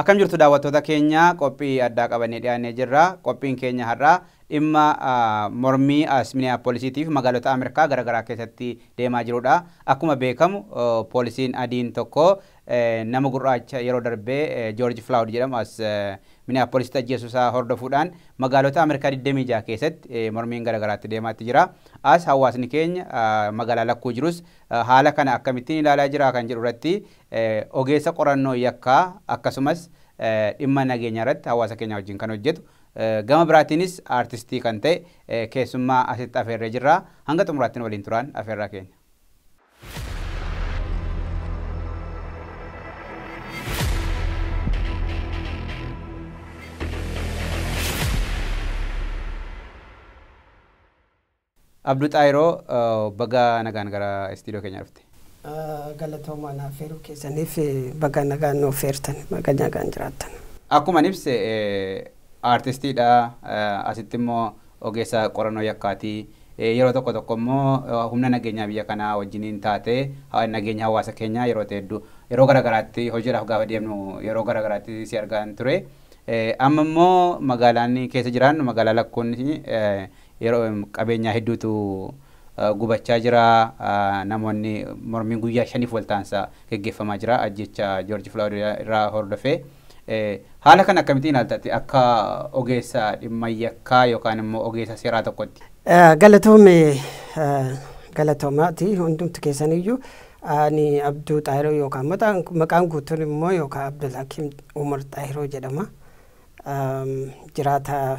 Akkam jirtu daawwattoota keenya qophii addaa qabannee dhiyaannee jirra. Qophiin keenya har'aa dhimma mormii as Miniyaapoolisiitiif magaalota Ameerikaa garaagaraa keessatti deemaa jirudha. Akkuma beekamu poolisiin adiin tokko nama gurraacha yeroo darbee Joorji Filaawud jedhamu as Miniyaapoolisitti ajjeesuusaa hordofuudhaan magaalota Ameerikaa 26 keessatti mormiin garaagaraatti deemaatti jira. As hawaasni keenya magaalaa lakkuu jirus haala kana akkamittiin ilaalaa jira kan jedhu irratti Ogeessa qorannoo yakkaa akkasumas dhimma nageenyaa irratti hawaasa keenyaa wajjin kan hojjetu, gama biraatiinis aartistii kan ta'e keessummaa asitti afeerree jirra. Hanga xumuraatti nu waliin turaan afeerraa keenya. Abdu Xaayiroo baga nagaan gara istiidiyoo keenya dhufte. Galatoomaa na affeeruu keessaniif baga nagaan nu affeertan baga nagaan jiraattan. Akkuman ibse aartistiidha asitti immoo ogeessa qorannoo yakkaati. Yeroo tokko tokko immoo humna nageenyaa biyya kanaa wajjiniin taatee nageenya hawaasa keenyaa yeroo heddu yeroo garagaraatti hojiidhaaf gaafa deemnu yeroo garagaraatti si argaan ture. Amma immoo magaalaan keessa jiraannu magaalaa Lakkuun Yeroo qabeenyaa hedduutu gubachaa jira, namoonni mormiin guyyaa shaniif waltaansa geggeeffamaa jira ajjeecha Joorji Filaawid irraa hordofee. Haala kana akkamitti ilaalta ati akka ogeessa dhimma yakkaa yookaan immoo ogeessa seeraa tokkotti? Galatoome galatoomaati hundumti keessaniyyuu ani Abduu Xaahiroo yookaan maqaan guutuun immoo yookaan Abdul Hakiim Umar Xaahiroo jedhama. Jiraataa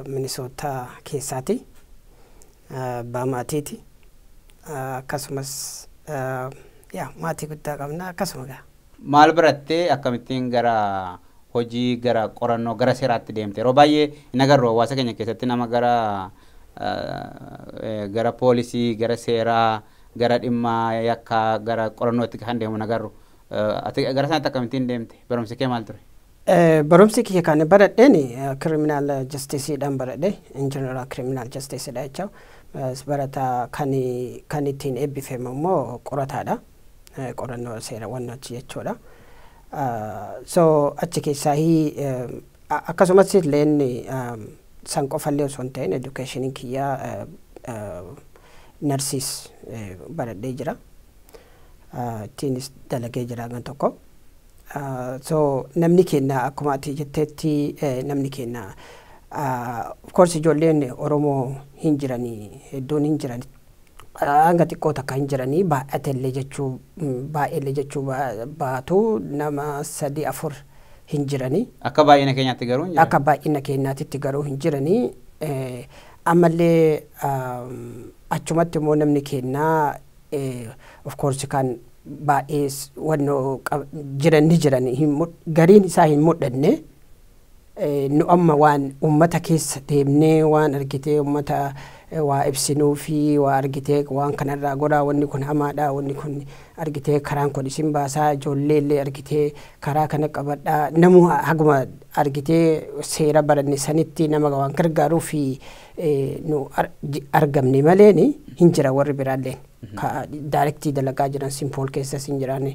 Minisootaa keessaati. Abbaa maatiiti. Akkasumas yaa maatii guddaa qabna akkasuma gaa. Maal baratte? Akkamittiin gara hojii, gara qorannoo, gara seeraatti deemte? Yeroo baay'ee hin agarru hawaasa keenya keessatti nama gara gara poolisii, gara seeraa, gara dhimma yakkaa, gara qorannootti kan deemu hin agarru. Ati gara sanatti akkamittiin deemte? Barumsi kee maal ture? Barumsi kiyya kan baradheen criminal justice dhan baradhe in general criminal justice dha jecha barataa kan kan ittiin eebbifame immoo qorataadha qorannoo seerawwan achi jechuudha. So achi keessaa akkasumas illeen san qofallee osoo hin ta'in education kiyya narsiis baradhee jira. Ittiinis dalagee jira gan tokko. So namni keenya akkuma ati jetteetti namni keenya of course ijoolleen Oromoo hin jirani hedduun hin jiran hanga xiqqoo takka hin jirani baay'atellee jechuu baay'eellee jechuu baatu nama sadii afur hin jirani. Akka baay'ina keenyaatti garuu hin jiran. Akka baay'ina keenyaatitti garuu hin jirani. Ammallee achumatti immoo namni keenya of course kan baay'ee wanno jiran ni jiran gariin isaa hin mul'anne nu amma waan ummata keessa deemnee waan argitee ummata waa ibsinuu fi waa argitee waan kanarraa goraa wanni kun hamaadha wanni kun argitee karaan kun isin baasaa ijoollee illee argitee karaa kana qabadha namuu haguma argitee seera baranne sanitti nama waan gargaaruu fi nu argamne maleen hin jira warri biraalleen ka daayirektii dalagaa jiran simpool keessas hin jiraan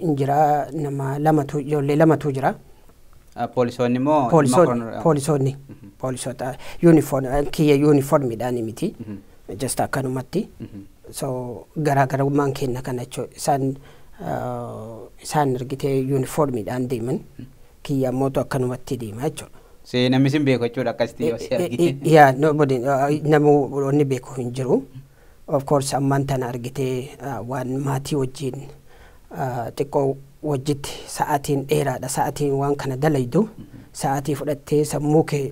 hin jira nama lamatu ijoollee lamatu jira. Poolisoonni immoo poolisoonni poolisoota yuunifoon kiyya yuunifoormiidhaan miti jasta akkanumatti so garaagarummaan kenna kana jechuudha isaan isaan argitee yuunifoormiidhaan deeman. kiyya ammootu akkanumatti deema jechuudha. See namni sin beeku jechuudha akkasitti yoo si argite. Yeah, nobody, uh, namuu wanni beeku hin jiru. Of course ammaan tana argitee uh, waan maatii wajjin uh, xiqqoo wajjitti sa'aatiin dheeraadha. Sa'aatiin waan kana dalaydu sa'aatii fudhattee sammuu kee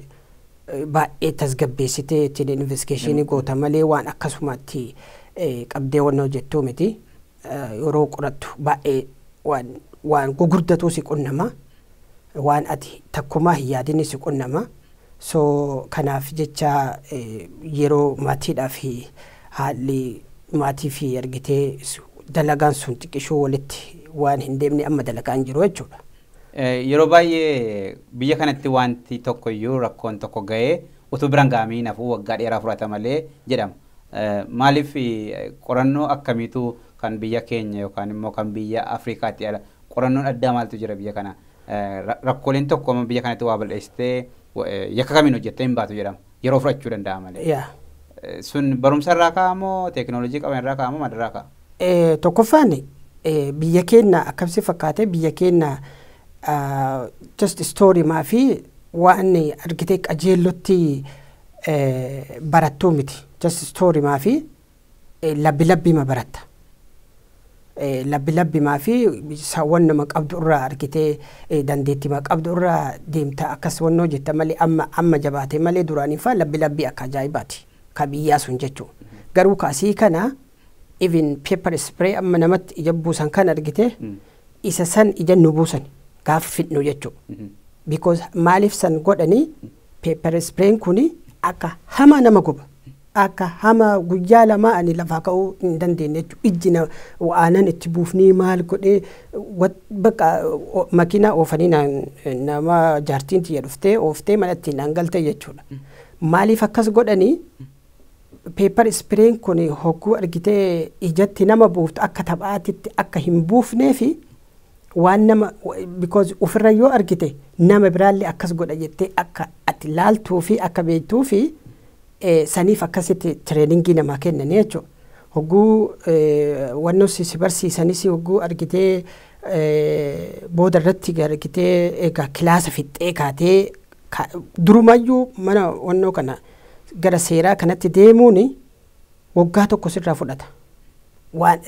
eh, baay'ee tasgabbeessitee ittiin investigeeshinii goota malee waan akkasumaatti eh, qabdee wanna hojjettuu miti. yeroo qorattu baay'ee waan waan gugurdatuu si qunnama waan ati takkumaa hin yaadinni si qunnama so kanaaf jecha yeroo maatiidhaa fi haalli maatii fi argitee dalagaan sun xiqqishuu walitti waan hin deemne amma dalagaa hin jiru jechuudha. Yeroo baay'ee biyya kanatti wanti tokko iyyuu rakkoon tokko ga'ee utuu biraan ga'amee hin hafu waggaa dheeraa fudhata malee jedhama. Maaliif qorannoo akkamiitu kan biyya keenya yookaan immoo kan biyya Afrikaatti ala qorannoon addaa maaltu jira biyya kana rakkooleen tokko amma biyya kanatti waa bal'eessitee yakka kamiin hojjettee hin baatu jedhama yeroo fudhachuu danda'a malee. Sun barumsa irraa ka'a moo teekinooloojii qaban irraa ka'a moo maalirraa ka'a? Tokkoffaan biyya keenya akkamsi fakkaate biyya keenya just story maa fi waan argitee qajeellotti barattuu miti just story maafi labbi labbi ma baratta labbi labbi maafi saawwan nama qabdu irraa argitee dandeetti ma qabdu irraa deemta akkas wannoo jetta malee amma amma jabaate malee duraanii faa labbi labbi akka ajaa'ibaati ka biyyaa sun jechuu garuu ka asii kana even paper spray amma namatti ija buusan kan argite isa san ija nu buusan gaafa fidnu jechuu because maaliif san godhanii Pepper sprayn kuni akka hamaa nama guba. Akka hamaa guyyaa lamaa ani lafaa ka'uu hin dandeenye jechuudha. Ijji na aanan itti buufnee maal godhee bakka makiinaa oofanii nama jaartiin tiyya dhuftee ooftee mana ittiin naan galte jechuudha. Maaliif akkas godhanii pepper sprayn kuni hogguu argitee ijatti nama buuftu akka taphaatitti akka hin buufneefi waan nama because ofirra yoo argite nama biraallee akkas godha jettee akka ati laaltuu fi akka beektuu fi saniif akkasitti tireeningii namaa kennanii jechuudha. Hogguu wannoos si barsiisanis hogguu argitee booda irratti argitee egaa kilaasa fixxee kaatee durumayyuu mana wannoo kana gara seeraa kanatti deemuuni waggaa tokko sirraa fudhata waan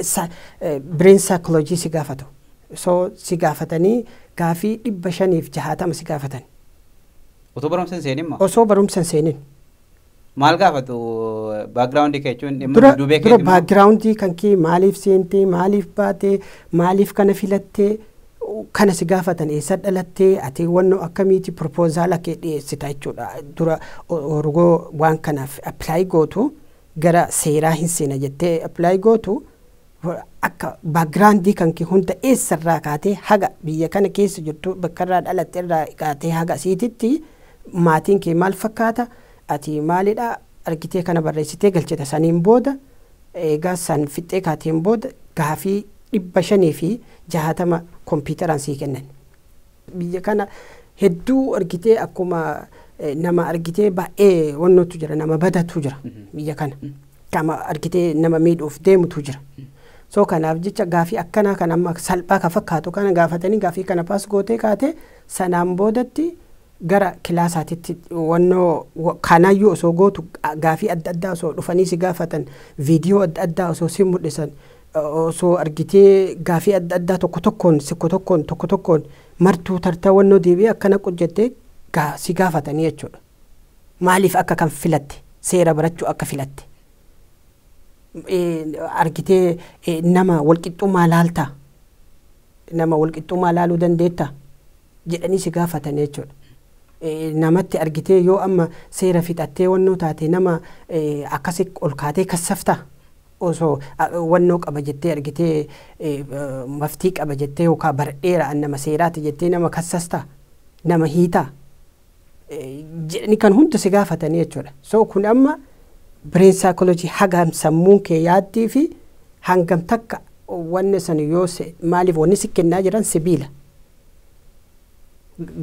bireen saayikolojii si gaafatu so si gaafatanii gaafii dhibba shaniif jahaatama si gaafatan Utuu barumsa hin seenin moo? osoo barumsa hin seenin Maal gaafatu baakgiraawundii kee jechuun dhimma dura duubee dura keetii moo? baakgiraawundii kan kee maaliif seentee maaliif baatee maaliif kana filattee kana si gaafatan eessa dhalatte ati wanno akkamiiti proposala kee dhiyeessita jechuudha dura orgoo waan kanaaf apply gootu gara seeraa hin seena jettee apply gootu akka background kan kee hunda eessa irraa kaatee haga biyya kana keessa jirtu bakka irraa dhalatte irraa kaatee haga siititti maatiin kee maal fakkaata ati maalidha argitee kana barreessitee galchita saniin booda eegaa san fixxee kaateen booda gaafii 560 kompiitaraan sii kennan. Biyya kana hedduu argitee akkuma nama argitee baay'ee wannotu jira nama badatu jira biyya kana. Kama argitee nama miidhuuf deemutu jira. So kanaaf jecha gaafii akkanaa kan amma salphaa ka fakkaatu kana gaafatanii gaafii kana paas gootee kaatee sanaan boodatti gara kilaasaatitti wannoo kanaayyuu osoo gootu gaafii adda addaa osoo dhufanii si gaafatan viidiyoo adda addaa osoo si mul'isan osoo argitee gaafii adda addaa tokko tokkoon sikko tokkoon tokko tokkoon martuu tartaa wannoo deebii akkana qujjatte gaa si gaafatanii jechuudha. Maaliif akka kan filatte seera barachuu akka filatte argitee nama walqixxummaa laaltaa nama walqixxummaa laaluu dandeettaa? jedhanii si gaafatani jechuudha. Namatti argitee yoo amma seera fixattee wannoo taate nama akkasi ol kaatee kassaftaa? Osoo wannoo qaba jettee argitee maftii qaba jettee yookaa baradheera an nama seeraati jettee nama kassastaa? Nama hiitaa? jedhanii kan hunda si gaafatanii jechuudha. So kun amma brain psychology hagam sammuun kee yaaddii fi hangam takka wanni san yoo se maaliif wanni si kennaa jiran sibiila.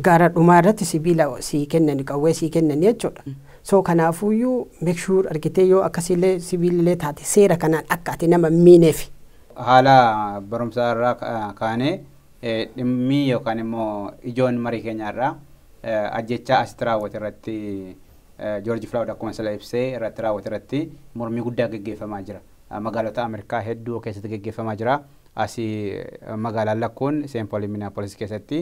Gara dhumaa irratti sibiila sii kennani qawwee sii kennani jechuudha. So kanaafuyyuu make sure argitee yoo akkasiillee sibiilillee taate seera kanaan akka ati nama hin miineefi. Haala barumsaa irraa kaanee Dhimmi yookaan immoo ijoon marii keenyaa har'aa ajjeechaa asitti raawwate irratti Joorji Filaawud akkuma sila ibse irratti raawwate irratti mormii guddaa geggeeffamaa jira. Magaalota Ameerikaa hedduu keessatti geggeeffamaa jira. Asi magaalaan lakkuun Seen Poolii Minneapolis keessatti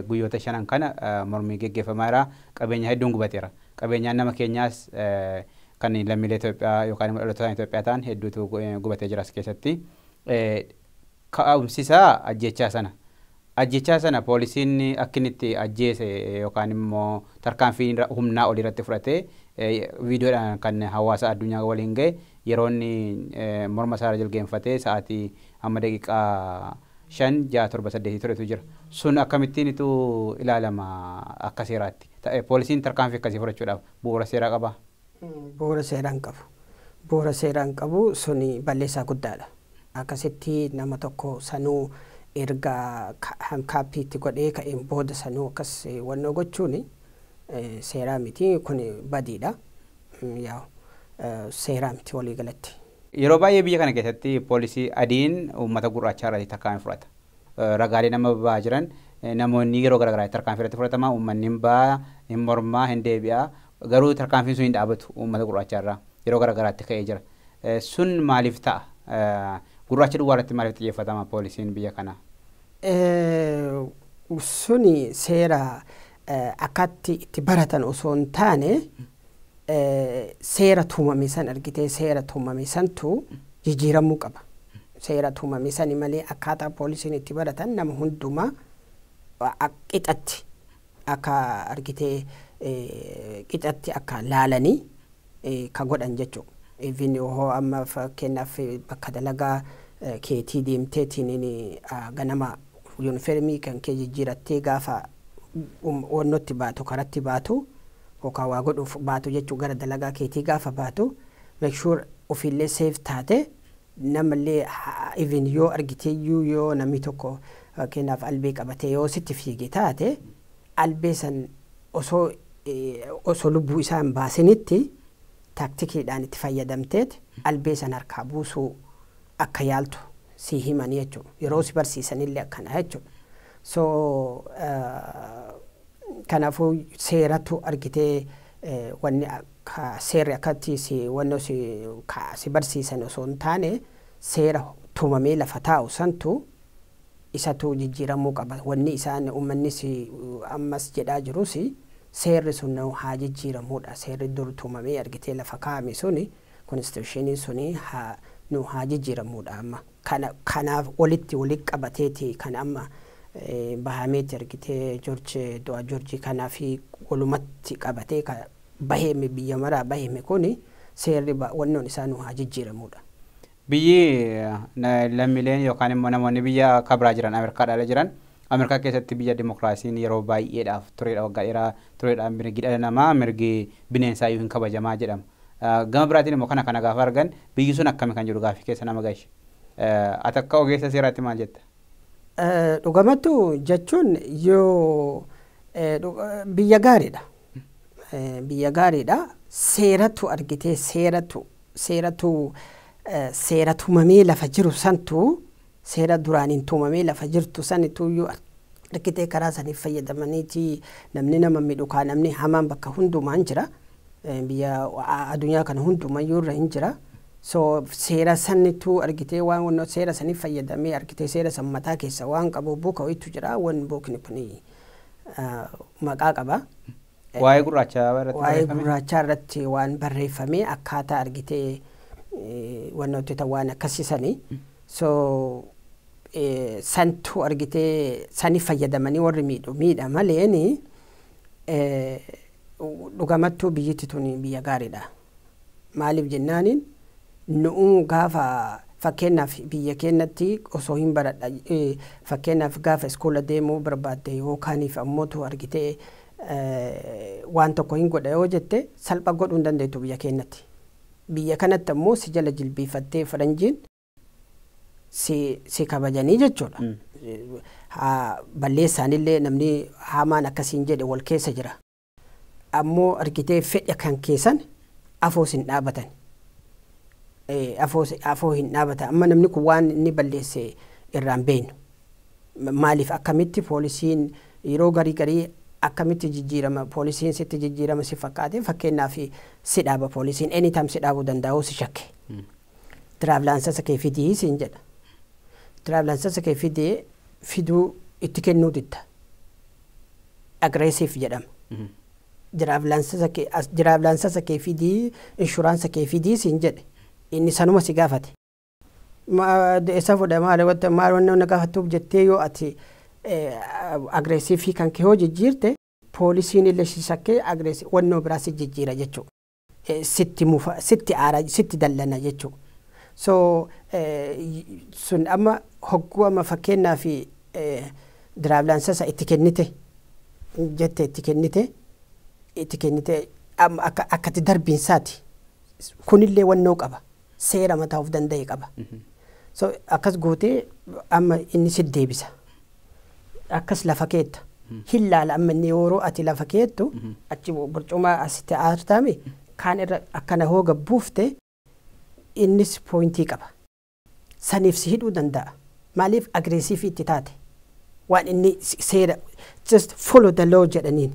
guyyoota shanan kana mormii geggeeffamaa jira. Qabeenya hedduun gubateera. Qabeenyaan nama keenyaas kan lammiilee Itoophiyaa yookaan immoo dhalootaan Itoophiyaa ta'an hedduutu gubatee jira as keessatti. ka'umsisaa ajjeechaa sana. Ajjeechaa sana poolisiin akka inni itti ajjeese yookaan immoo tarkaanfii irra- humnaa olii irratti fudhate eh, viidiyoodhaan kan hawaasa addunyaa waliin ga'e yeroo inni eh, morma isaa irra jilgeenfatee sa'aatii amma daqiiqaa shan ja'a torba saddeetii turetu jira. Sun akkamittiin itu ilaalama akka seeraatti? Ta- eh, Poolisiin tarkaanfii akkasii fudhachuudhaaf bu'uura seeraa qabaa? bu'uura seeraa hin qabu. Bu'uura seeraa hin qabu, sun balleessaa guddaadha. Akkasitti nama tokko sanuu erga handcuffed itti godhee ka'een booda sanuu akkas wannoo gochuun seeraa miti, kun badiidha. Yaa seeraa miti walii galatti. Yeroo baay'ee biyya kana keessatti poolisii adiin uummata gurraachaa irratti tarkaanfii fudhata. Ragaaleen amma bahaa jiran namoonni yeroo garaagaraatti tarkaanfii irratti fudhatama, uummanni hin baha, hin morma, hin deebi'a, Garuu tarkaanfiin sun hin dhaabatu uummata gurraachaa irraa yeroo gara garaatti ka'ee jira. Sun maaliif ta'a? Gurraacha duwwaa irratti maaliif xiyyeeffatama poolisiin biyya kanaa? Suni seera akkaatti itti baratan osoo hin taane seera tumame san argitee seera tumame santu jijjiiramuu qaba. Seera tumame sani malee akkaataa poolisiin itti baratan nama hundumaa qixatti akka argite qicatti akka laalani ka godhan jechu even hoo amma fakkeenyaaf bakka dalagaa keetii deemteetiin ganama yunifermii kan kee jijjiirattee gaafa oonnotti baatu karatti baatu yookaan waa godhuuf baatu jechuu gara dalagaa keetii gaafa baatu make sure ofiillee safe taate Namallee even yoo argiteeyyuu yoo namni tokko fakkeenyaaf albee qabatee yoo sitti fiige taate albee san osoo osoo lubbuu isaa hin baasinitti taaktikiidhaan itti fayyadamteet albee san harkaa buusuu akka yaaltu sii himani jechuudha. Yeroo si barsiisanillee akkana jechuudha. So Kanaafuu seeratu argitee wanni akka seerri akkatti si wanno si ka si barsiisan osoo hin taane seera tumamee lafa taa'u santu isatu jijjiiramuu qaba. Wanni isaan ummanni si ammas jedhaa jirus seerri sun nau haa jijjiiramuudha. Seerri dur tumamee argitee lafa kaa'ame suni konstituushiiniin suni haa nuu haa jijjiiramuudha amma. Kana kanaaf walitti wali qabateeti kan amma bahameeti argitee Jorji du'a Jorji kanafi walumatti qabatee ka baheeme biyya maraa baheeme kuni seerri ba wannoon isaa nuu haa jijjiiramuudha. Biyyi lammileen yookaan immoo namoonni biyya ka biraa jiran Amerkaa dhala jiran Amerkaa keessatti biyya dimokraasiin yeroo baay'eedhaaf tureedha waggaa dheeraa tureedha mirgi dhala namaa mirgi bineensaa iyyuu hin kabajamaa jedhama. Gama biraatiin immoo kana kana gaafa argan biyyi sun akkami kan jedhu gaaffii keessa nama galcha. Ati akka ogeessa seeraatti maal jetta? Dhugamattu jechuun yoo biyya gaariidha. Biyya gaariidha. Seeratu argitee seeratu seeratu seera tumamee lafa jiru santu Seera duraaniin tumamee lafa jirtu sanituuyyuu arkitee karaa saniif fayyadamaniiti namni nama midhu kaa namni hamaan bakka hundumaan jira biyya adunyaa kana hundumayyuu irra hin jira so seera sanituu argitee waan seera saniif fayyadamee arkitee seera san mataa keessa waan qabu buka waytu jira wan bukni kuni maqaa qaba. Waa'ee gurraachaa irratti Waa'ee barreeffame. gurraachaa irratti waan barreeffame akkaataa argitee eh, wanna hojjetan waan akkasisani. So eh, santu argitee sani fayyadamanii warri miidhu miidha maleeni eh, dhugamattuu biyyatti tuni biyya gaariidha. Maaliif jennaaniin nu'uu gaafa fakkeennaaf biyya keennatti osoo hin baradha fakkeennaaf gaafa iskoola deemuu barbaadde yookaaniif ammootu argitee waan tokko hin godha yoo jette salpha godhuu hin dandeettu biyya keennatti. Biyya kanatti ammoo si jala jilbiifattee faranjiin si si kabajanii jechuudha. Haa balleessaanillee namni hamaan akka siin jedhe wal keessa jira. ammoo argitee fedha kan keessan afoos hin dhaabatan afoo hin dhaabata amma namni kun waan inni balleesse irraan beeynu maaliif akkamitti poolisiin yeroo garii garii akkamitti jijjiirama poolisiin sitti jijjiirama si fakkaate fakkeenyaaf si dhaaba poolisiin anytime si dhaabuu danda'uu si shakke Tiraavlaansasa kee fidi siin jedha. Tiraavlaansasa kee fidi fiduu itti kennuu didda. Agreesiif jedhama. Tiraavlaansasa kee as- tiraavlaansasa kee fidi inshuraansa kee fidi siin jedhe. Inni sanuma si gaafate. Ma- Eessa fuudha maali wanta maal wanna na gaafattuuf jettee yoo ati agreesiifii kan kee yoo jijjiirte poolisiin illee si shakkee agreesi wannoo biraa si jijjiira jechuudha. sitti mufa sitti aara sitti dallana jechu so sun amma hogguu amma fakkeenyaaf diraavlaansasa itti kennite jette itti kennite itti kennite amma akka akkati darbiinsaati kunillee wannoo qaba seera mataa of danda'e qaba so akkas gootee amma inni si deebisa akkas lafa keetta hin laala amma inni yooroo ati lafa keettu achi burcumaa as ta'aartaami kaan irra akkana hoo gad buufte innis pooyintii qaba saniif si hidhuu danda'a maaliif agreesiivii itti taate waan inni seera just follow the law jedhaniin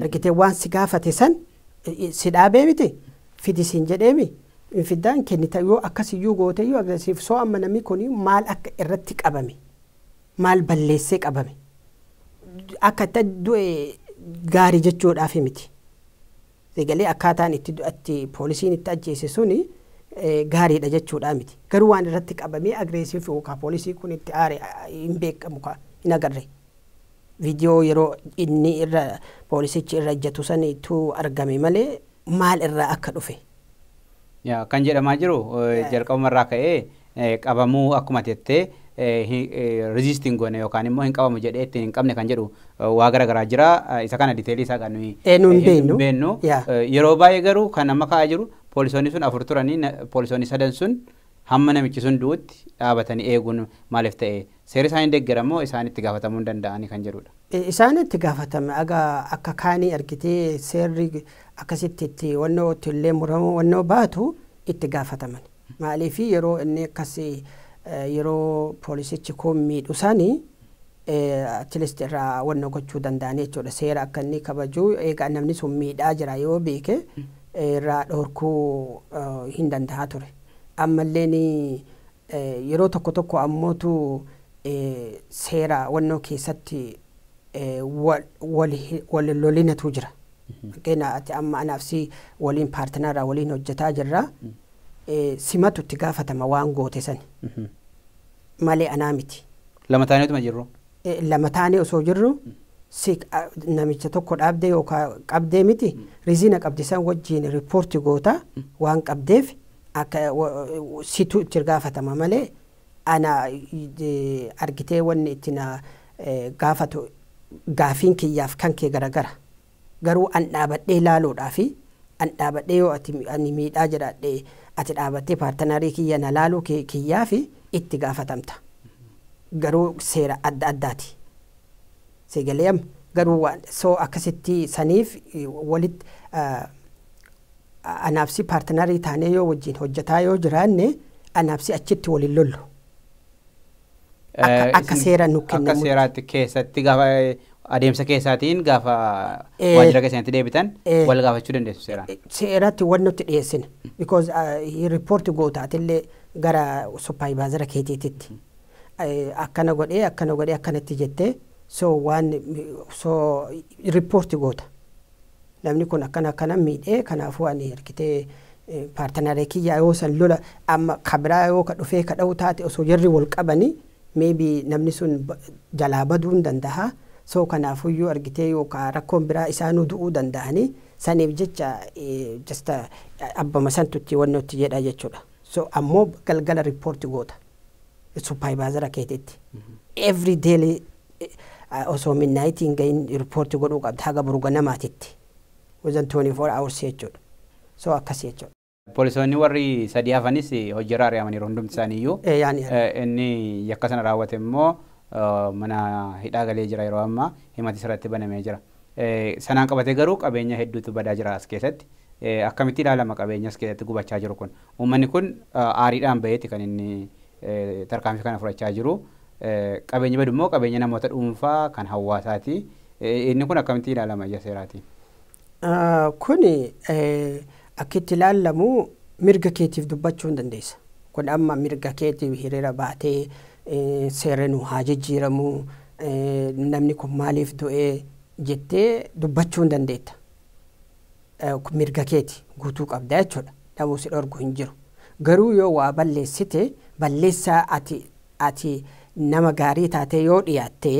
Argite waan si gaafate san si dhaabee miti fidi siin jedheemi hin fiddaa hin kennita yoo akkas iyyuu goote iyyuu aggressive so amma namni kun maal akka irratti qabame maal balleessee qabame akka itti du'e gaari jechuudhaafi miti egalee akkaataan itti du'atti poolisiin itti ajjeese suni gaariidha jechuudhaa miti garuu waan irratti qabamee aggressive yookaan poolisii kun itti aare hin beekamu kaa hin agarre. Video yeroo inni irra poolisichi irra ejjatu sani tu argame malee maal irraa akka dhufe. Yaa kan jedhamaa jiru jalqabuma irraa ka'ee qabamuu akkuma ati jettee resist hin goone yookaan immoo hin qabamu jedhee ittiin hin qabne kan jedhu waa gara garaa jira isa kana diteelii isaa kan nuyi Ee, nu hin beeknu. beennu Yaa. yeroo baay'ee garuu kan amma ka'aa jiru poolisoonni sun afur turanii na- poolisoonni sadan sun hamma namichi sun du'utti dhaabatanii eeguun maaliif ta'e Seerri isaan hin deggera moo isaan itti gaafatamuu hin danda'ani kan jedhudha. Isaan itti gaafatame aga akka kaanii argitee seerri akkasitti itti wannoo itti illee muramu wannoo baatu itti gaafatamani. Maaliifi yeroo inni akkas yeroo poolisichi kuun miidhu sani atleast irraa wannoo gochuu danda'anii jechuudha. Seera akka inni kabajuu eegaa namni sun miidhaa jira yoo beeke irraa dhorkuu hin danda'a ture. Ammalleen Yeroo tokko tokko ammootu seera wannoo keessatti wal lolinatu jira. Fakkeenya ati amma anaaf si waliin paartinaraa waliin hojjetaa jirra. Simatu itti gaafatama waan goote sani. Malee anaa miti. Lama taaneetuma jirru. lama taanee osoo jirru si namicha tokko dhaabdee yookaan qabdee miti riziina qabdi san wajjiin riippoorti goota waan qabdeef akka situ itti gaafatama malee ana argitee wanni itti na gaafatu gaafiin kiyyaaf kan kee garagara. Garuu an dhaabadhee laaluudhaafi an dhaabadhee yoo ati ani miidhaa jiraadhe ati dhaabattee paartanarii kiyya na laaluu kee kiyyaafi itti gaafatamta. Garuu seera adda addaati. Sii galee amma? Garuu waan so akkasitti saniif walitti anaaf si paartanarii taanee yoo wajjin hojjataa yoo jiraanne anaaf si achitti wal hin lollu. Akka- Eh, akka isin- seera nu kennamutti. Akka seeraatti keessatti gaafa eh, adeemsa keessaatiin gaafa Eh, waajjira keessanitti deebitan eh, wal gaafachuu dandeessu seeraan. seeratti wan nutti dhiyeessine because riippoorti gootaatillee gara suppaayivaazaara keetiititti Eh, akkana godhee akkana godhee akkanatti jettee so waan so riippoorti goota Namni kun akkana akkana miidhee kanaafuu ani argitee paartanaaree kiyyaa yoo san lola amma ka biraa yoo ka dhufee ka dha'u taate osoo jarri wal qabani maybe namni sun jalaa baduu hin dandaha soo kanaafuyyuu argitee yoo ka rakkoon biraa isaanuu du'uu dandahani saniif jecha jasta abbama santutti wannotti jedha jechuudha so ammoo galgala riippoorti goota. supaayivaazara keetitti every daily eh, osoo midnaayitii hin gahin riippoorti godhuu qabda haga boru ganamaatitti within 24 hours jechuudha so akkasii jechuudha. Poolisoonni warri sadii hafanis hojiirra ari'amaniiru hundumti isaanii iyyuu. Eh, yaani yaani. Eh, Inni yakka sana raawwate immoo eh, mana hidhaa galee jira yeroo ammaa himatis irratti banamee jira. Sanaan qabatee garuu qabeenya hedduutu badaa jira as keessatti. Akkamitti ilaalama qabeenya as keessatti gubachaa jiru kun? Uummanni kun aariidhaan baheeti kan inni tarkaanfii kana fudhachaa jiru. Qabeenyi badu immoo qabeenya namoota dhuunfaa kan hawaasaati. Inni kun akkamitti ilaalama ija seeraatiin? Kun akka itti ilaallamu mirga keetiif dubbachuu hin dandeessa. Kun amma mirga keetiif hiriira baatee seerri nu haa jijjiiramu, namni kun maaliif du'e jettee dubbachuu hin dandeetta. Kun mirga keeti guutuu qabda jechuudha. Namuu si dhorgu hin jiru. Garuu yoo waa balleessite balleessaa ati ati nama gaarii taatee yoo dhiyaatte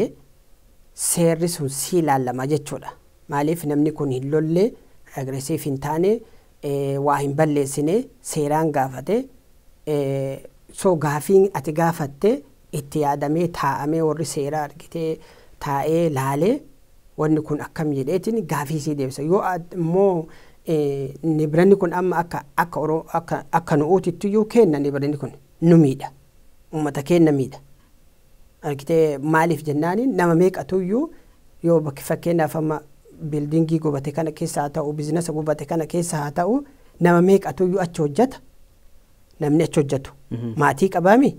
seerri sun si ilaallama jechuudha. Maaliif namni kun hin lolle, aggressive hin taane, waa hin balleessine seeraan gaafate so gaafiin ati gaafatte itti yaadamee taa'amee warri seeraa argitee taa'ee laalee wanni kun akkam jedheetiin gaafii sii deebisa yoo immoo nibranni kun amma akka akka akka akka nu'uutittiyyuu keenna nibranni kun nu miidha ummata keenna miidha. argitee maaliif jennaaniin nama meeqatuyyuu yoo bakki fakkeenyaaf amma biildiingii gubate kana keessa haa ta'u biizinasa gubate kana keessa haa ta'u nama meeqatuyyuu achi hojjata namni achi hojjatu maatii qabaami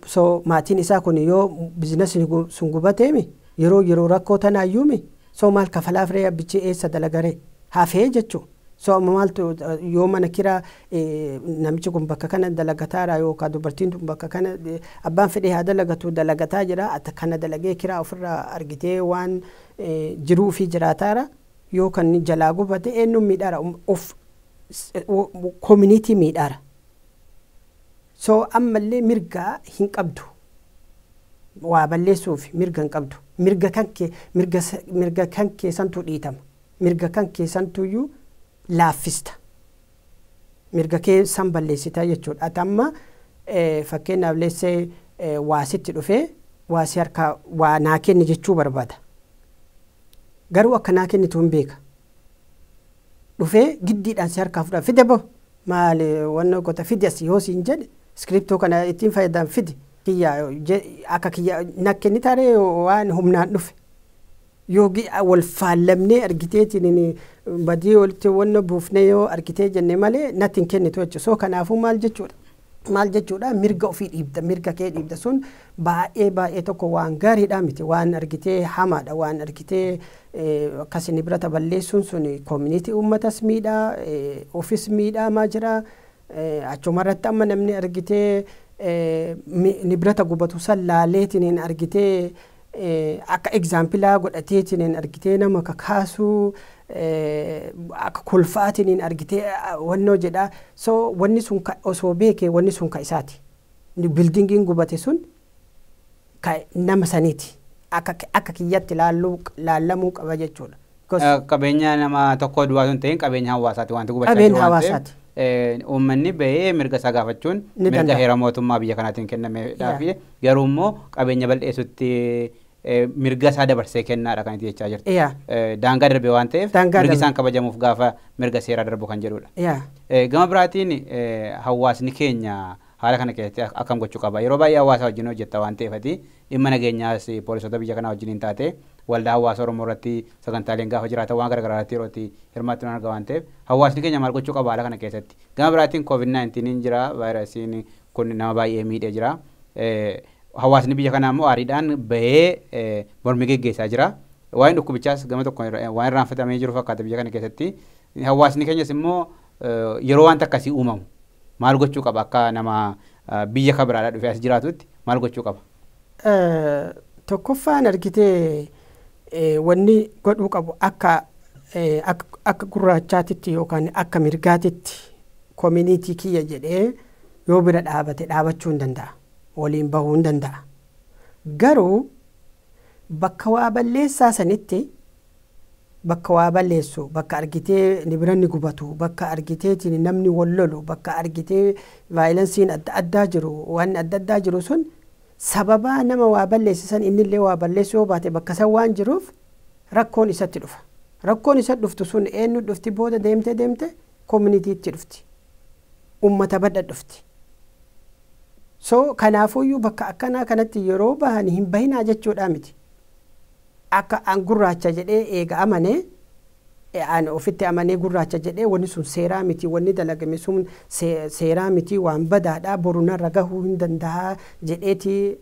so maatiin isaa kun yoo biizinasni gu- sun gubateemi yeroo yeroo rakkoo tanaayyuumi so maal kafalaaf ree abbichi eessa dalagaree hafee jechuu So amma maaltu yoo mana kiraa namichi kun bakka kana dalagataara yookaan dubartiin tun bakka kana abbaan fedhee haa dalagatu dalagataa jira ati kana dalagee kiraa ofirraa argitee waan jiruu fi jiraataara yoo kan jalaa gubate eenyuun miidhaara of koominiitii miidhaara. So ammallee mirgaa hin qabdu. Waa balleessuuf mirga hin qabdu. Mirga kan kee mirga kan kee santu dhiitama. mirga kan kee santuyyuu laaffista. Mirga kee san balleessita jechuudha. Ati amma fakkeenyaaf let's say waa sitti dhufee waa si harkaa waa naa kenni jechuu barbaada. Garuu akka naa kennitu hin beeka. Dhufee giddiidhaan si harkaa fudhaa fide bo maali wanna kota fide as yoo siin jedhe iskiriptoo kana ittiin fayyadam fide kiyya akka kiyya na kennitaaree waan humnaan dhufe. Yoo gi'a wal faallamnee argiteetiin badii walitti wanna buufnee yoo argitee jenne malee natti hin kennitu jechuudha. So kanaafuu maal jechuudha? Maal jechuudha? Mirga ofii dhiibda, mirga kee dhiibda sun baay'ee baay'ee tokko waan gaariidhaa miti. Waan argitee hamaadha. Waan argitee akkasi nibrata balleessuun sun koominiitii uummatas miidhaa, ofis miidhaamaa jira. Achumarratti amma namni argitee nibrata gubatu san laaleetiin argitee akka egzaampilaa godhateetiniin argitee nama kakaasuu akka kolfaatiniin argitee wannoo jedhaa so wanni sun osoo beeke wanni sun ka isaati bildingiin gubate sun ka nama saniiti akka kiyyatti laallamuu qaba jechuudha Qabeenya nama tokkoo duwwaa osoo hin ta'in qabeenya hawaasaati wanti gubachaa Qabeenya jiru waan ta'eef hawaasaati. eh, uummanni ba'ee mirga isaa gaafachuun Ni mirga danda'a. heera mootummaa biyya kanaatiin kennameedhaaf Yaa. garuu immoo qabeenya bal'eessutti eh, mirga isaa dabarsee kennaadha kan itti jechaa jirtu. Yaa. Eh, Daangaa darbe waan ta'eef Daangaa mirgi darbe. isaan kabajamuuf gaafa mirga seeraa darbu kan jedhudha. Yaa. Eh, Gama biraatiin eh, hawaasni keenya haala kana keessatti ak- akkam gochuu qaba. Yeroo baay'ee hawaasa wajjin hojjetta waan ta'eef ati dhimma nageenyaas eh, poolisoota biyya kanaa wajjin hin taate waldaa hawaasa Oromoo irratti sagantaaleen gaafa jiraatan waan gara garaa irratti yeroo itti hirmaattu nan arga waan ta'eef hawaasni keenya maal gochuu qaba haala kana keessatti? Gama biraatiin covid 19n jira vaayirasiin kun nama baay'ee miidhee jira. Hawaasni biyya kanaa immoo aariidhaan bahee mormii geggeessaa jira. Waa'een dhukkubichaas gama tokko waan irraanfatamee jiru fakkaata biyya kana keessatti. Hawaasni keenyas immoo yeroo wanta akkasii uumamu maal gochuu qaba akka nama biyya kabiraadhaa dhufee as jiraatutti maal gochuu qaba? Tokkoffaan argitee wanni godhuu qabu akka akka gurraachaatitti yookaan akka mirgaatitti koominiitii kiyya jedhee yoo bira dhaabate dhaabachuu hin danda'a. Waliin bahuu hin danda'a. Garuu bakka waa balleessaa sanitti bakka waa balleessu, bakka argitee nibranni gubatu, bakka argiteetiin namni wal lolu, bakka argitee vaayilansiin adda addaa jiru, waanni adda addaa jiru sun sababaa nama waa balleesse san innillee waa balleessuu yoo baate bakka san waan jiruuf rakkoon isatti dhufa. Rakkoon isatti dhuftu sun eenyutti dhufti booda deemtee deemte kominitiitti dhufti. Ummata badha dhufti. So kanaafuyyuu bakka akkanaa kanatti yeroo bahan hin bahinaa jechuudhaa miti. Akka an gurraacha jedhee eega amane, e an ofitti amanee gurraacha jedhee wanni sun seeraa miti, wanni dalagame sun se, seeraa miti, waan badaadha, boru narra gahuu hin dandaha jedheeti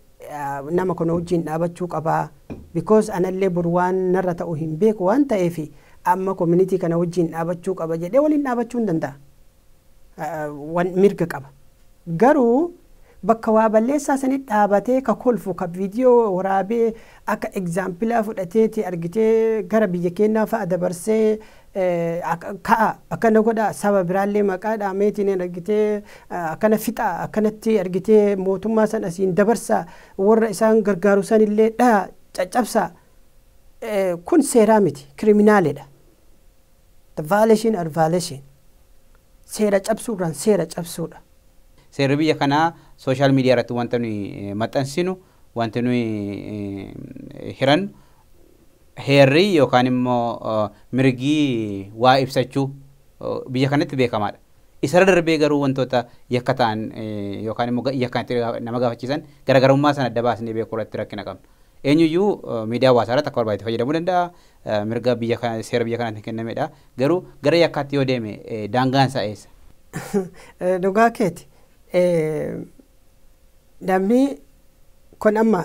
nama kana wajjiin dhaabachuu qaba. Because anallee boru waan narra ta'u hin beeku waan ta'eefi amma community kana wajjiin dhaabachuu qaba jedhee waliin dhaabachuu hin dandaha. wan mirga qaba garuu bakka waa balleessaa sanit dhaabatee ka kolfu ka video waraabee akka examplaa fudhateeti argitee gara biyya keennaa fa'a dabarsee ka'a akkana godha saba biraallee maqaa dhaameetiin argitee akkana fixa akkanatti argitee mootummaa san asiin dabarsa warra isaan gargaaru sanillee dhaya caccabsa kun seeraa miti kiriminaaledha The violation or violation Seera cabsuu irraan seera cabsuu dha. Seerri biyya kanaa social media irratti wanta nuyi maxxansinu, wanti nuyi hirannu, heerri yookaan immoo mirgi waa ibsachuu biyya kanatti beekamaa dha. Isarra darbee garuu wantoota yakka ta'an yookaan immoo yakkaan itti nama gaafachiisan garaagarummaa sana adda baasnee beekuu irratti rakkina qabna. Eenyuyyuu miidiyaa hawaasaa irratti akka barbaade itti fayyadamuu danda'a, mirga biyya kana seera biyya kanaatiin kennamedha. Garuu gara yakkaatti yoo deeme daangaan isaa eessa? Dhugaa keeti. Namni kun amma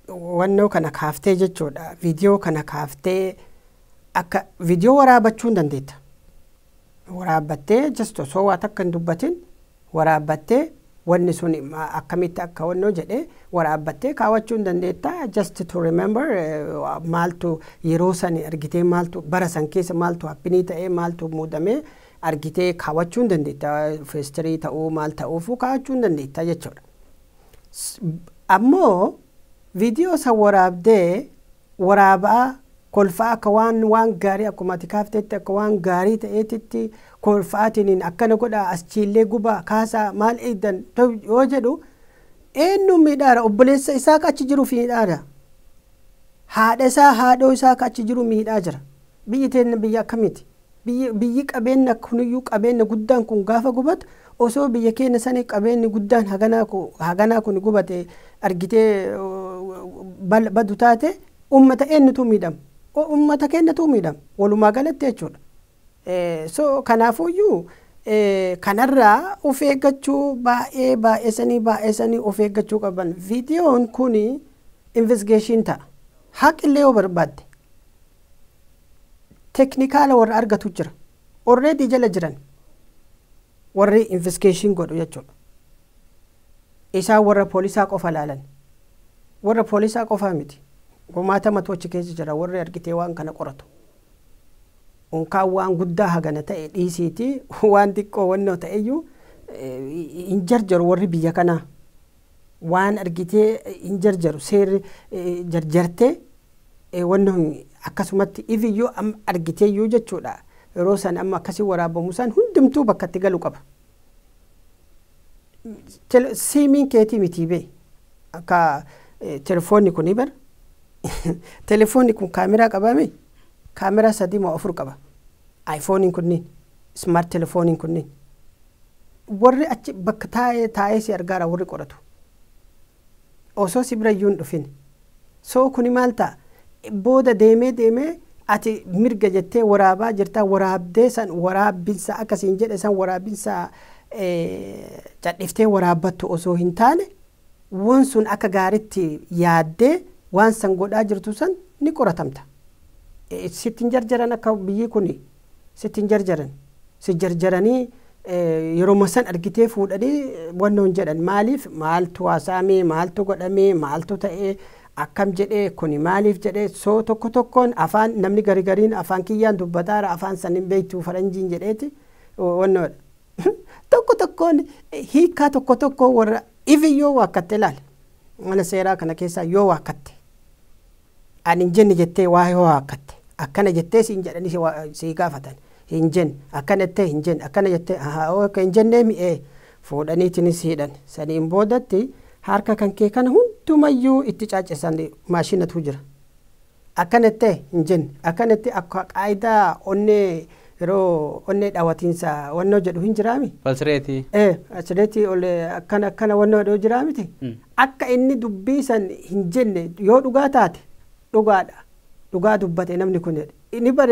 wannoo kana kaaftee jechuudha. Viidiyoo kana kaaftee akka viidiyoo waraabachuu hin dandeetta. waraabbattee just osoo waa takka hin dubbatin waraabbattee wanni sun akkamitti akka wannoo jedhe waraabbattee kaawachuu hin dandeetta just to remember maaltu yeroo sani argitee maaltu bara san keessa maaltu happinii ta'ee maaltu muudamee argitee kaawachuu hin dandeetta feestirii ta'uu maal ta'uufuu kaawachuu hin dandeetta jechuudha. Ammoo Video san waraabdee waraabaa kolfaa akka waan waan gaarii akkuma ati kaaftetti akka waan gaarii ta'eetitti kolfa'aatiniin akkana godhaa aschiillee gubaa kaasaa maal eeydan yoo jedhu eennuun miidhaara obboleessa isaa ka achi jiruuf miidhaara haadha isaa haadhoo isaa ka achi jiru miidhaa jira biyyi teenna biyya akkamiiti Biyyi biyyi qabeenna kuniyyuu qabeenna guddaan kun gaafa gubatu osoo biyya keenna sani qabeenni guddaan haganaa ku haganaa kuni gubate argitee bal badu taate ummata eennutuu miidhama? O ummata keennatuu miidhama walumaa galatti jechuudha. So kanaafuuyyuu kanarraa of eeggachuu baay'ee baay'esanii baay'esanii of eeggachuu qaban. Viidiyoon kuni investigation ta'a. Haqillee yoo barbaadde. teknikaala warra argatu jira already jala jiran warri investigation godhu jechuudha isaan warra poolisaa qofa laalan warra poolisaa qofaa miti kumaatamatu achi keessa jira warri argitee waan kana qoratu unkaan waan guddaa hagana ta'e dhiisiiti waan xiqqoo wannoo ta'eyyuu hin jarjaru warri biyya kanaa waan argitee hin jarjaru seerri jarjarte wanni kun akkasumatti ifiyyuu amma argiteeyyuu jechuudha yeroo san amma akkasii waraabamu san hundumtuu bakka itti galu qaba. Siimiin keetii mitii bee akka telefoonni kun bar telefoonni kun kaameraa qabaame kaameraa sadii moo afur qaba aayifooniin kunniin ismaart telefooniin kunniin. Warri achi bakka taa'ee taa'ee si argaara warri qoratu. Osoo si birayyuu hin dhufin. So kuni maal ta'a? Booda deemee deemee ati mirga jettee waraabaa jirta waraabdee san waraabbinsa akka siin jedhe san waraabinsa cadhiftee waraabbattu osoo hin taane wan sun akka gaaritti yaaddee waan san godhaa jirtu san ni qoratamta. Sitti hin jarjaran akka biyyii kuni sitti hin jarjaran si jarjaranii yeroma san argitee fuudhanii wanna hin jedhan maaliif maaltu haasaamee maaltu godhamee maaltu ta'ee akkam jedhee kuni maaliif jedhee soo tokko tokkoon afaan namni garigariin afaan kiyyaan dubbataara afaan san hin beektu faranjiin jedheeti wanna tokko tokkoon hiikaa tokko tokko warra ivi yoo waakkatte ilaale mana seeraa kana keessaa yoo waakkatte Ani hin jenne jettee waa'ee hoo haakkatte. Akkana jettee siin jedhanii si waa, sii gaafatan. Hin jenne. Akkana jettee hin jenne. Akkana jettee ahaa ok hin jenneemi ee. Fuudhaniitini si hidhan. Saniin boodatti harka kan kee kana hundumayyuu itti caaccesan maashinatu jira. Akkana jettee hin jenne. Akkana jettee akka qaayidaa onnee yeroo onnee dhawatiinsa wannoo jedhu hin jiraami? Pulse rate. Ee, pulse rate ol akkana akkana wannoo jedhu jiraamiti? Akka inni dubbii san hin jenne yoo dhugaa taate, Dhugaadha, dhugaa dubbate namni kun jedhe. Inni bar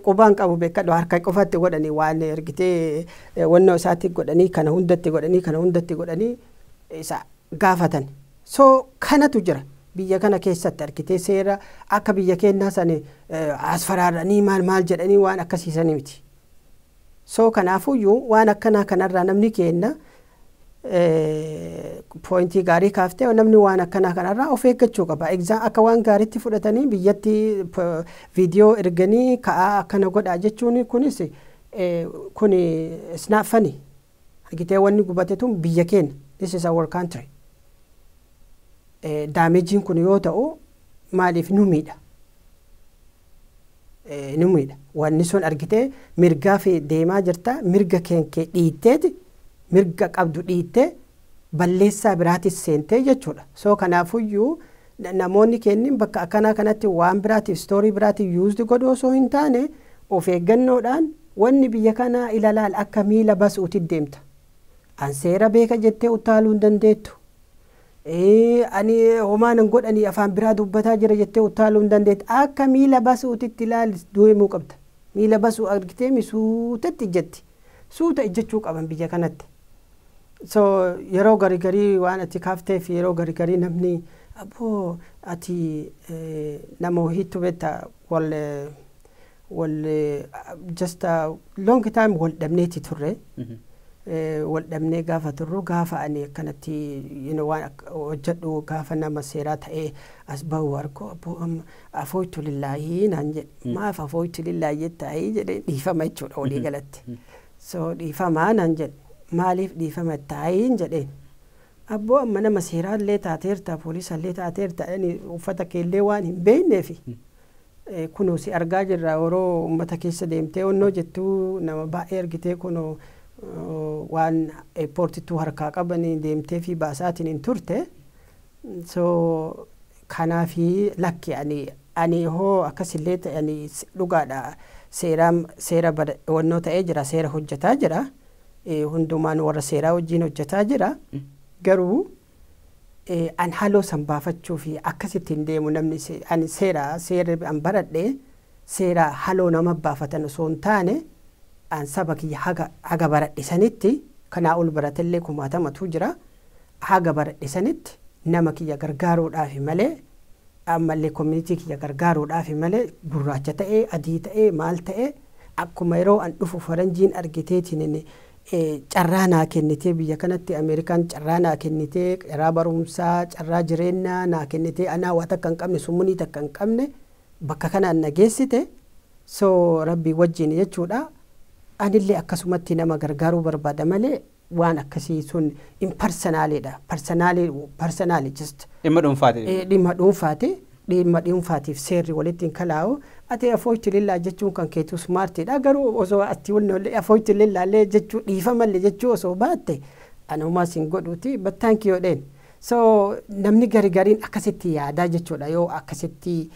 quba hin qabu beekkadhu, harka qofa itti godhanii waan ergitee wannoo isaatti godhanii kana hunda itti godhanii kana hunda itti godhanii isa gaafatan. So kanatu jira biyya kana keessatti argitee seera akka biyya keennaa san asfaraaranii maal maal jedhanii waan akkasii sanii miti. So kanaafuyyuu waan akkanaa kanarraa namni keenna poointii gaarii kaaftee namni waan akkanaa kanarraa of eeggachuu qaba. Egzaa akka waan gaariitti fudhatanii biyyatti viidiyoo erganii ka'aa akkana godhaa jechuun kunis kun isnaaffani. Argitee wanni gubate tun biyya keenya. This is our country. Daameejiin kun yoo ta'u maaliif nu miidha? ni miidha. Wanni sun argitee mirgaa fi deemaa jirta mirga keenkee dhiitteeti mirga qabdu dhiittee balleessaa biraatis seentee jechuudha. So kanaafuyyuu namoonni keennin bakka akkanaa kanatti waan biraatiif story biraatiif used godhu osoo hin taane of eeggannoodhaan wanni biyya kanaa ilalaal akka miila basuuti deemta. An seera beeka jettee uttaaluu hin dandeettu. Ee, ani homaan hin godhanii afaan biraa dubbataa jira jettee uttaaluu hin dandeettu. Akka miila basuutitti ilaali deemuu qabda. Miila basuu argiteemi suutatti ijjatti. Suuta ijjachuu qaban biyya kanatti. So yeroo gari garii waan ati kaafteef yeroo gari garii namni abboo ati eh, nama wahiittu beekta wal eh, wal just a long time wal dhabneeti turre. Eh, Wal dhabnee gaafa turru gaafa ani akkanatti you know, waan ak- hojjedhu gaafa nama seeraa ta'ee as bahu warko abboo amma afooytu lillaahii naan jedhe maaf afooytu lillaahii jettaayii jedhee dhiifama jechuudha walii galatti. So dhiifamaa naan jedhe maaliif dhiifama taayiin jedheen. Abboo amma nama seeraallee taateerta poolisallee taateerta ani uffata keellee waan hin beekneefi. Kunoo si argaa jirra oroo ummata keessa deemtee onnoo jettuu nama baay'ee argitee kunoo waan eeppoortittuu harkaa qabanii deemteefii baasaatiin hin turte so kanaafii lakki ani ani hoo akkas illee ta'e ani dhugaadha seeraa seera onnoo ta'ee jira seera hojjetaa jira hundumaan warra seeraa wajjiin hojjetaa jira garuu An haloo san baafachuufi akkasitti hin deemu namni ani seera seerri an baradhe seera haloo nama baafatan osoo hin taane an saba kiyya haga haga baradhe sanitti kanaa ol baratellee kumaatamatu jira haga baradhe sanitti nama kiyya gargaaruudhaafi malee ammallee community kiyya gargaaruudhaafi malee gurraacha ta'ee adii ta'ee maal ta'ee akkuma yeroo an dhufu faranjiin argiteetiin carraa naa kennitee biyya kanatti American carraa naa kennitee carraa barumsaa carraa jireennaa naa kennitee anaa waa takka hin qabne summunii takka hin qabne bakka kanaan na geessite so rabbii wajjiin jechuudha anillee akkasumatti nama gargaaruu barbaada malee waan akkasii sun impersonally dha personally personally just Dhimma dhuunfaati. eh, dhimma dhuunfaati Dhiimma dhuunfaatiif seerri walitti hin kalaa'u. Ati afooytu lillaa jechuun kan keetu smart dha. Garuu osoo ati afooytu lillaa illee jechuu dhiifama illee jechuu osoo baatte ani homaa sin godhuuti but thank you jedheen. So namni gari gariin akkasitti yaadaa jechuudha yoo akkasitti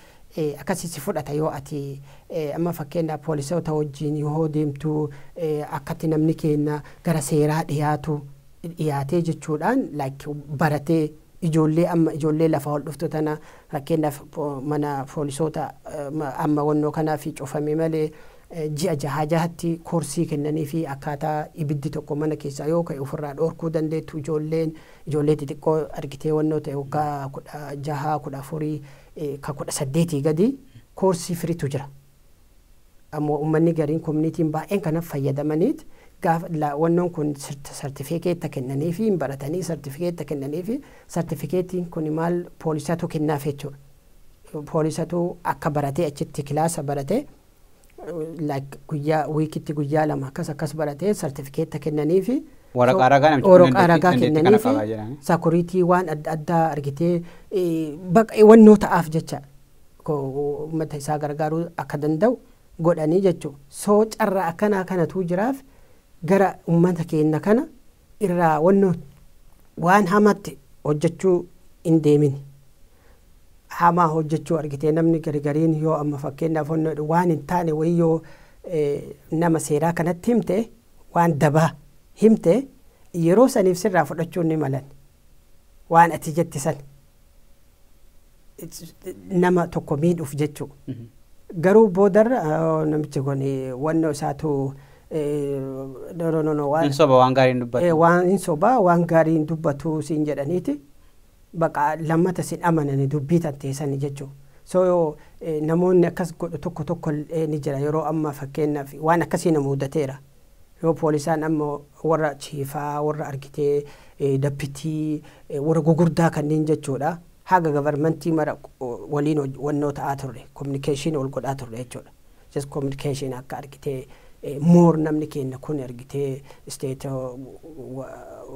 akkasi si fudhata yoo ati amma fakkeenyaaf poolisoota wajjin yoo deemtu akkatti namni keenna gara seeraa dhiyaatu. dhiyaatee jechuudhaan like baratee ijoollee amma ijoollee lafaa ol dhuftu tana fakkeenyaaf mana poolisoota amma wannoo kanaaf cufame malee ji'a jahaa jahatti koorsii kennanii fi akkaataa ibiddi tokko mana keessaa yoo ka'e ofirraa dhoorkuu dandeettu ijoolleen ijoollee xixiqqoo argitee wannoo ta'e waggaa kudha jahaa kudha afurii ka kudha saddeetii gadi koorsii firitu jira. Ammoo ummanni gariin community'n baay'een kana fayyadamaniit gaafa la wannoon kun sirt sartifeekeetta kennaniifi hin baratanii sartifikeetta kennaniifi sartifikeettiin kuni maal poolisatu kennaaf jechuudha. Poolisatu akka baratee achitti kilaasa baratee like guyyaa wiikitti guyyaa lama akkas akkas baratee sartifikeetta kennaniifi Waraqaa ragaa namichi kun Waraqaa dandeettii ragaa dandeettii kana kennaniifi qaba jedhanii. sakuriitii waan adda addaa argitee eh, baqa wannoo ta'aaf jecha ummata isaa gargaaruu akka danda'u godhanii jechu. So carraa akkanaa kanatuu jiraaf gara ummata keenna kana irraa wanno waan hamatti hojjachuu hin deemini. Hamaa hojjachuu argitee namni garigariin yoo amma fakkeenyaaf wanno waan hin taane wayii yoo nama seeraa kanatti himte waan dabaa himte yeroo saniif sirraa fudhachuun ni malan waan ati jette san. nama tokko miidhuuf jechuu garuu boodarra "Oh, namichi kun eh, wannoo isaatu eh, no, no, no, no, waan- Hin soba waan gaarii hin dubbatu. Eh, waan hin sobaa waan gaarii hin dubbatu siin jedhaniiti baqa lammata sin amanani dubbii tan teessani jechuu so eh, namoonni akkas godhu tokko tokko eh, ni jira yeroo amma fakkeenyaaf waan akkasii na muudateera yoo poolisaan amma warra chiifaa warra argitee eh, dappitii eh, warra gugurdaa kanneen jechuudha Haga gavarmantii mara waliin wannoo ta'aa turre, communication wal godhaa turre jechuudha. Just communication akka argitee more namni keenna kun argitee state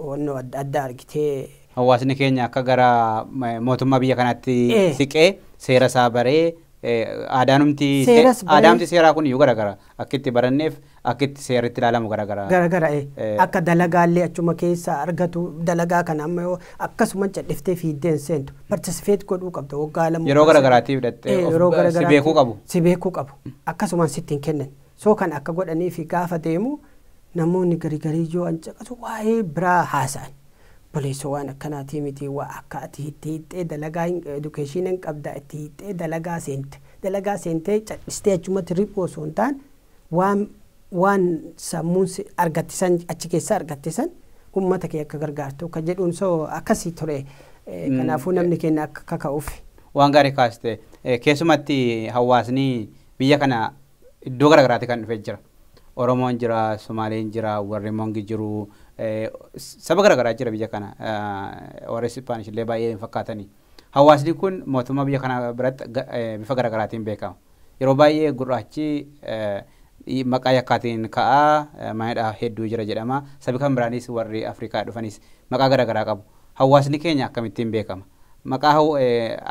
wannoo adda addaa argitee. Hawaasni keenya akka gara mootummaa biyya kanaatti Ee. siqee seera isaa baree eh, aadaanumti se- Seeras baree. aadaamti seeraa kun iyyuu garagara akka itti baranneef Akki itti seerri itti ilaalamu gara gara. gara gara e. Akka dalagaa illee achuma keessaa argatu dalagaa kana amma yoo akkasuman cadhiftee fiiddee hin seentu. Participate godhuu qabda waggaa lama Yeroo gara garaatiif hidhattee ee of yeroo gara si beekuu garaatti qabu. si beekuu qabu. Akkasumaan sitti hin kennan. So kan akka godhanii fi gaafa deemu namoonni gari garii yoo an caqasu waa'ee biraa haasa'an. Buleessoo waan akkanaatii miti waa akka ati itti hiixxee dalagaa hin education hin qabda itti hiixxee dalagaa seente. Dalagaa seentee cadhistee achumatti riphuu osoo hin taane Waan waan sammuun si argatte san achi keessaa argatte san ummata kee akka gargaartu ka jedhuun so akkasii ture Eh, kanaafuu namni keenya akka kaka'uuf. Waan gaarii kaaste Eh, keessumatti hawaasni biyya kana iddoo garaagaraatti kan dhufee jira. Oromoon jira, Somaaleen jira, warri Mongi jiru, eh, saba garaagaraa jira biyya kana. Eh, Warri Ispaanish illee baay'ee hin fakkaatani. Hawaasni kun mootummaa biyya kanaa biratti bifa gara garaatiin beekama. Yeroo baay'ee gurraachi maqaa yakkaatiin ka'a, mana hidhaa hedduu jira jedhama. Sabi kan biraanis warri Afrikaa dhufanis maqaa gara garaa qabu. Hawaasni keenya akkamittiin beekama? Maqaa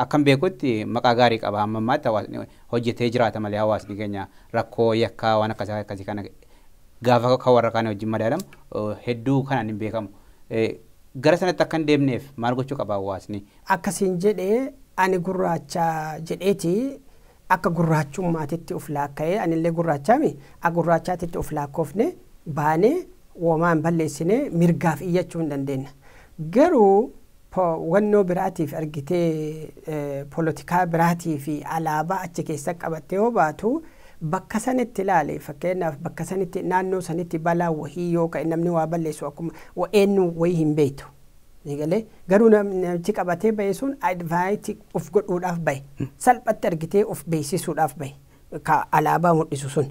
akkan beekutti maqaa gaarii qaba hamma ammaatti hawaasni hojjetee jiraata malee hawaasni keenya rakkoo yakkaa waan akkasii akkasii kana gaafa kan warra kaanii wajjin madaalamu hedduu kanaan hin beekamu. Gara sanatti akka hin deemneef maal gochuu qaba hawaasni? Akka siin jedhe ani gurraacha jedheeti akka gurraachummaatitti of laakka'ee anillee gurraachaami akka gurraachaatitti of laakkoofne baanee womaa hin balleessine mirgaaf iyyachuu hin dandeenna. Garuu po wannoo biraatiif ergitee polotikaa biraatii fi alaabaa achi keessa qabattee yoo baatu bakka sanitti ilaali fakkeenyaaf bakka sanitti naannoo sanitti balaa wahii yoo ka'e namni waa balleessu akkuma wa- eenyu wayii hin beektu. Ni galee garuu nam- namichi qabatee ba'e sun advaayiti of godhuudhaaf ba'e salphatti argitee of beeksisuudhaaf ba'e. ka alaabaa mudhisu sun,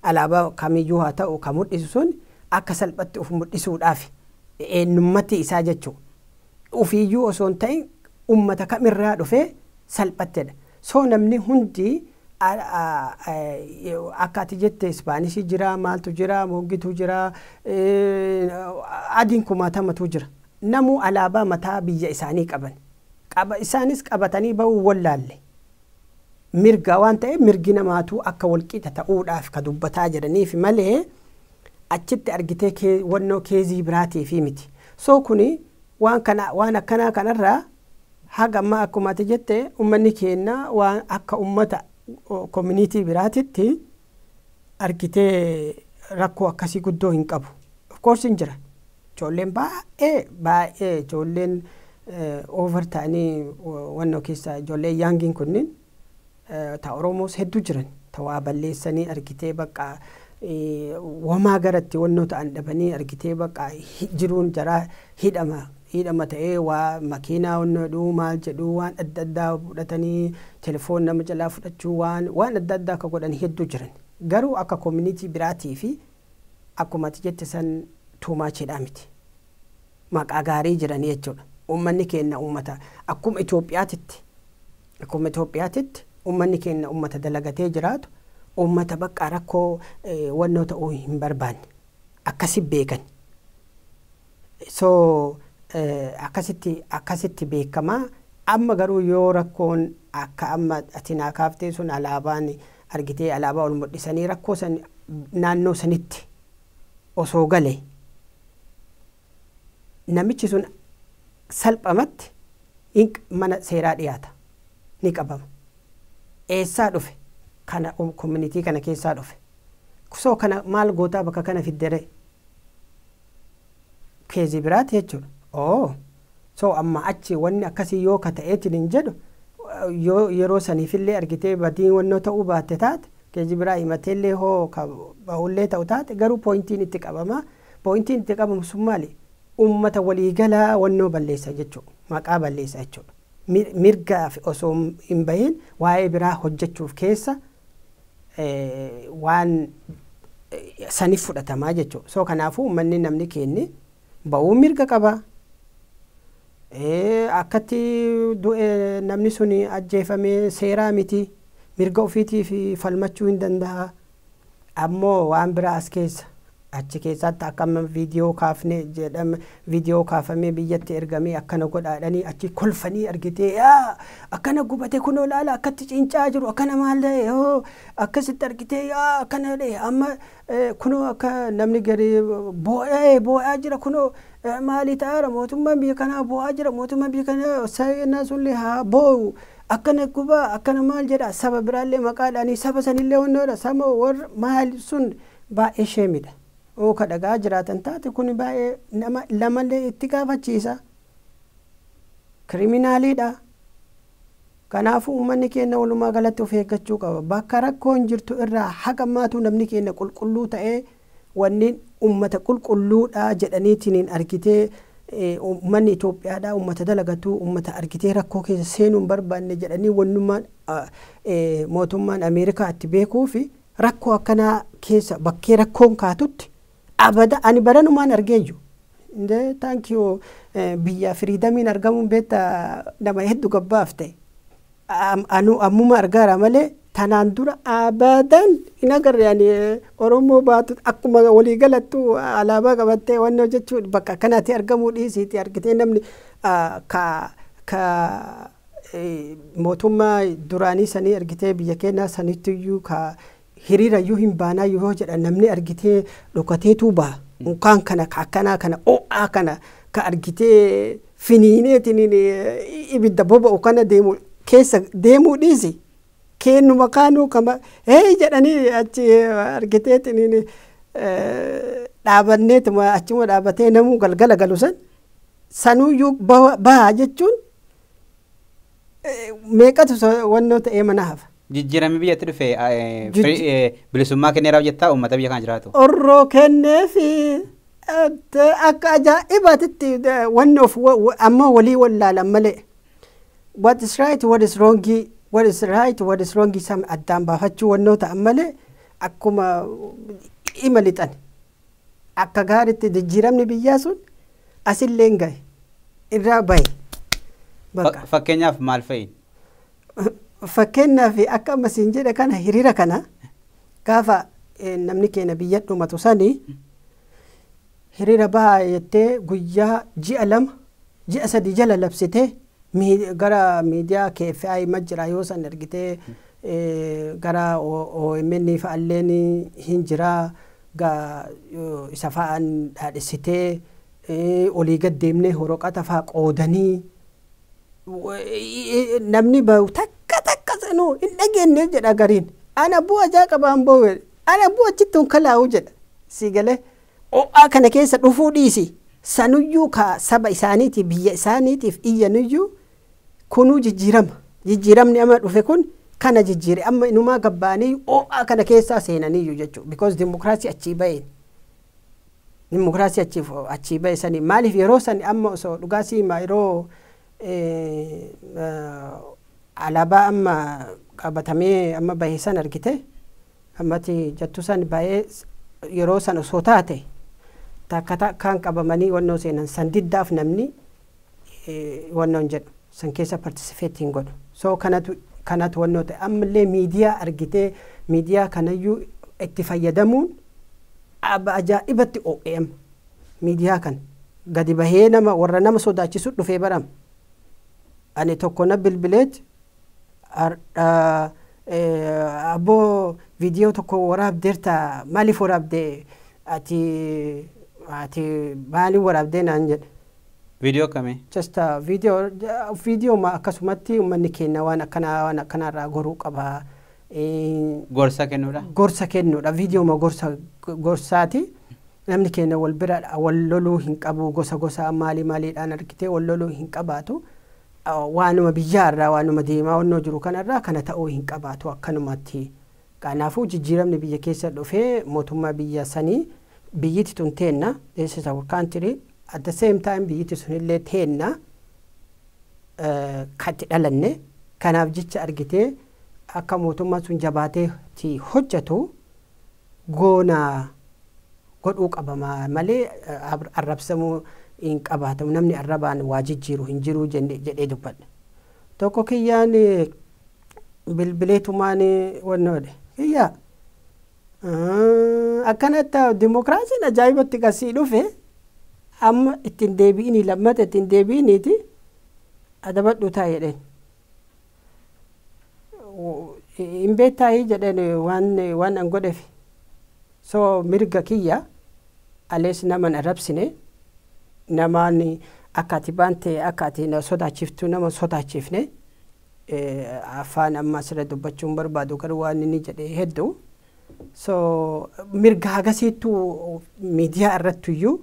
alaabaa kamiyyuu haa ta'u ka mudhisu sun akka salphatti uf mudhisuudhaafi. Eennummati isaa jechuu ufiiyyuu osoo hin ta'in ummata kam irraa dhufee salphattedha. So namni hundi akka ati jette Ispaanishii jira, maaltu jira, mooggituu jira, adiin kumaatamatuu jira. Namuu alaabaa mataa biyya isaanii qaban. Qaba isaanis qabatanii ba'uu hin wollaalle. mirgaa waan ta'eef mirgi namaatuu akka walqixa ta'uudhaaf ka dubbataa jedhaniif malee achitti argitee kee wannoo keezii biraatiifii miti. So kuni waan kana waan akkanaa kanarraa haga ammaa akkuma ati jette ummanni keenna waan akka ummata community biraatitti argitee rakkoo akkasii guddoo hin qabu. Of course hin jira. Ijoolleen baay'ee baay'ee ijoolleen over ta'anii wannoo keessa ijoollee yaangiin kunniin ta Oromoos hedduu jiran ta waa balleessanii argitee bakka wamaa garatti wannoo ta'an dhabanii argitee bakka jiruun jaraa hidhama hidhama ta'ee waa makiinaa wanno jedhu maal jedhu waan adda addaa fudhatanii telefoon nama jalaa fudhachuu waan waan adda addaa akka godhan hedduu jiran garuu akka community biraatii fi akkuma ati jette san too much jedhaa miti maqaa gaarii jiranii jechuudha ummanni keenna ummata akkuma Itoophiyaatitti akkuma Itoophiyaatitti ummanni keenna ummata dalagatee jiraatu ummata baqqaa rakkoo wannoo ta'uu hin barbaanne akkasi beekan So akkasitti akkasitti beekama. Amma garuu yoo rakkoon akka amma ati naa kaaftee sun alaabaan argitee alaabaa ol mudhisanii rakkoo san naannoo sanitti osoo gale namichi sun salphamatti hin mana seeraa dhiyaata ni qabama. Eessaa dhufe kana community kana keessaa dhufe. So kana maal gootaa bakka kana fiddere? keezi biraati jechuudha. Oo so amma achi wanni akkasii yoo ka ta'eetiin hin jedhu yoo yeroo saniifillee argitee badii wannoo ta'uu baatte taate keezi biraa himateellee hoo ka bahullee ta'u taate garuu pooyintiin itti qabama. Pooyintiin itti qabamu sun maali? Uummata waliigalaa wannoo balleessa jechuudha. Maqaa balleessa jechuudha. Mirgaaf osoo hin bahin waa'ee biraa hojjechuuf keessa waan sanif fudhatamaa jechu so kanaafu ummanni namni keenni ba'uu mirga qaba akkatti du'e namni sun ajjeefame seeraa miti mirga ofiitiif falmachuu hin danda'a ammoo waan biraa as keessa Achi keessaatti akka amma viidiyoo kaafne jedhame viidiyoo kaafamee biyyatti ergamee akkana godhaadhanii achi kolfanii argitee yaa akkana gubate kunoo laala akkatti ciincaa jiru akkana maal ta'e hoo akkasitti argitee yaa akkana jedhe amma eh, kunoo akka namni gadi boo'ee boo'aa jira kunoo eh, maalii ta'aara mootummaan biyya kanaa boo'aa jira mootummaan biyya kanaa saayinaa sunillee haa boo'u akkana gubaa akkana maal jedha saba biraallee maqaadhaanii saba sanillee wannoodha sama warra maal sun. Baay'ee sheemidha. Yoo ka dhaga'aa jiraatan taate kuni baay'ee nama lamallee itti gaafachiisa. Kiriminaaliidha. Kanaafuu ummanni keenna walumaa galatti of eeggachuu qaba. Bakka rakkoon jirtu irraa haga ammaatu namni keenna qulqulluu ta'ee wanni ummata qulqulluudha jedhaniitiniin argitee ummanni Itoophiyaadhaa ummata dalagatu ummata argitee rakkoo keessa seenuu hin barbaanne jedhanii wannummaan mootummaan Ameerikaa itti beekuufi Rakkoo akkanaa keessa bakkee rakkoon kaatutti abada ani baranumaan argeeyyu. Indee thank you eh, biyya firiidamiin argamuun beetta nama heddu gabbaafte. Am- Anu ammuma argaara malee tanaan dura abadan hin agarre ani eh, Oromoo baatu akkuma walii galattu ah, alaabaa qabattee wanni hojjechuu bakka akkanaati argamuu dhiisiiti argitee namni ah, ka ka mootummaa duraanii sanii argitee biyya keenyaa sanittiyyuu ka hiriirayyuu hin baanaa yoo jedhan namni argitee dhokateetuu baha. Unkaan kana ka akkanaa kana o'aa kana ka argitee finiineetiin ibidda boba'u kana deemu keessa deemuu dhiisi. Keennuma kaanuu kama hee jedhanii achi argiteetiin dhaabanneetuma achuma dhaabatee namuu galgala galu san Sanuyyuu bawa- baha jechuun eh, meeqatu so- wannoo ta'ee mana hafa. Jijjiiramni biyyatti dhufe eh, Jijji- free- eh, bilisummaa kenneera hojjettaa uummata biyya kana jiraatu. Orroo kennee fi eh, te- akka ajaa'ibaatitti eh, wannoof wa- wa- ammoo walii wallaalan malee. What is right, what is wrong, what is right, what is wrong san addaan baafachuu wannoo ta'an malee akkuma ima lixan. Akka gaaritti jijjiiramni biyyaa sun asilleen gahe. Irraa bahe. Bakka. Fakkeenyaaf maal fa'i? Fakkeenyaaf akka amma siin jedhe kana hiriira kana gaafa namni keenya biyya dhumatu sani hiriira bahaa jettee guyyaa ji'a lama ji'a sadii jala labsitee gara miidiyaa KFI ma jira yoo san ergitee gara OMN fa'alleen hin jira ga isa fa'aan dhaadhessitee olii gad deemnee horoqata fa'a qoodanii namni bahu takka takka sanuu hin dhageenne jedha gariin ana buu ajaa qabaan bahu ana buu achitti honkalaa'u jedha sii galee o'aa kana keessa dhufuu dhiisi sanuyyuu ka saba isaaniitiif biyya isaaniitiif iyyanuyyuu Kunuu jijjiirama. Jijjiiramni amma dhufe kun kana jijjiire. Amma inumaa gad ba'aniiyyu oo'aa kana keessaa seenaniiyyu jechuudha. Because dimokiraasii achii ba'een. Dimokiraasii achii achii ba'e saniin maaliif yeroo san amma osoo dhugaa si himaa yeroo alaabaa amma qabatamee amma bahe san argite ammati jattu san bahee yeroo san osoo taate takka takkaan qabamanii wannoo seenan san diddaaf namni wannoon jedhu san keessa participate hin godhu so kanatu kanatu wannoo ta'e ammallee miidiyaa argitee miidiyaa kanayyuu itti fayyadamuun ajaa'ibatti OEM miidiyaa kan gadi bahee nama warra nama sodaachisu dhufee baram ani tokko na bilbileet abboo viidiyoo tokko waraabdeerta maaliif waraabde ati ati maaliin waraabdee naan jedhe Video kami? Just a video video ma akkasumatti ummanni keenna waan akkanaa waan akkanaa irraa goruu qaba. Eh, Gorsa kennuudha. gorsa kennuudha viidiyooma gorsa gorsaati namni keenya wal bira wal loluu hin qabu gosa gosaa maalii maaliidhaan argitee wal loluu hin qabaatu Ah, waanuma biyyaa irraa waanuma deemaa wannoo jiru kanarraa kana ta'uu hin qabaatu akkanumatti Kanaafuu jijjiiramni biyya keessa dhufe mootummaa biyya sanii biyyiti tun teenna, this is our country, at the same time biyyiti sunillee teenna ka itti dhalanne, kanaaf jecha argitee akka mootummaan sun jabaatee itti hojjatu goona godhuu qabama malee arrabsamuu hin qabaatamu, namni arrabaan waa jijjiiru hin jiru jedhee dubbadhe. Tokko kiyyaan bilbileetumaan wanna godhe kiyyaa akkanatti dimokiraasiin ajaa'ibatti qasii dhufe amma ittiin deebi'inii lammata ittiin deebi'iniiti adabadhuu taa'e jedheen. Hin beektaayii jedheen waan waan an godheef so mirga kiyya alees naman arrabsine namaan akka ati baante akka ati na sodaachiftu nama sodaachifne. Afaan amma asirra dubbachuun barbaadu garuu waan inni jedhe heddu. So mirga hagasiittu miidiyaa irrattuyyuu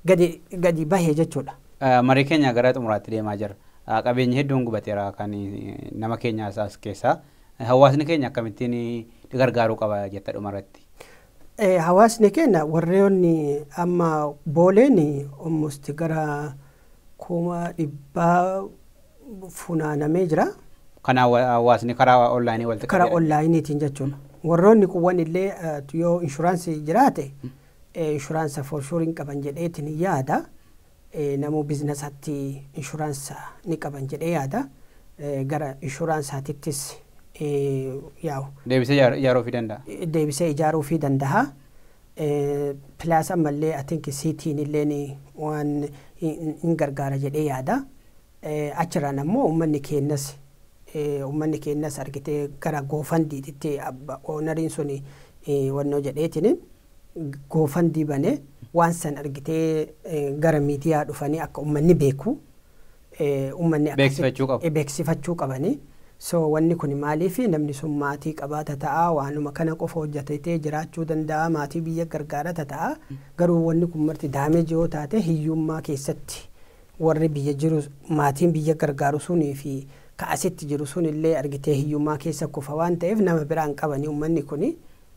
gadi gadi bahe jechuudha. Marii keenya gara xumuraatti deemaa jirra. Qabeenyi hedduun gubateera kan nama keenyaas as keessaa. Hawaasni keenya akkamittiin gargaaruu qaba jetta dhumarratti? Hawaasni keenya warreen amma booleen almost gara kuma dhibbaa funaanamee jira. Kana hawaasni karaa onlaayinii walitti qabee Karaa onlaayiniitiin jechuun warroonni kuwwan illee yoo inshuraansii jiraate inshuraansa for sure hin qaban jedheetiin yaada. Namuu biznasatti inshuraansa ni qaban jedhee yaada. Gara inshuraansaatittis yaa'u. Deebisee ijaaruufii danda'a. Deebisee ijaaruufii danda'a. Plus ammallee I think City'n illeen waan hin gargaara jedhee yaada. Achirraan ammoo uummanni keenyas uummanni keenyas argitee gara goofandiititti ownariin suni wannoo jedheetiin goofandii bane waan san argitee gara miidiyaa dhufanii akka uummanni beeku ummanni akkasitti Beeksifachuu qabu. eh, beeksifachuu qabani. So wanni kun maaliif namni sun maatii qabaa tata'a waanuma kana qofa hojjetatee jiraachuu danda'a maatii biyya gargaara tata'a garuu wanni kun marti daameeji yoo taate hiyyummaa keessatti warri biyya jiru maatiin biyya gargaaru sunii fi ka asitti jiru sun illee argitee hiyyummaa keessa kufa waan ta'eef nama biraan qabani ummanni kuni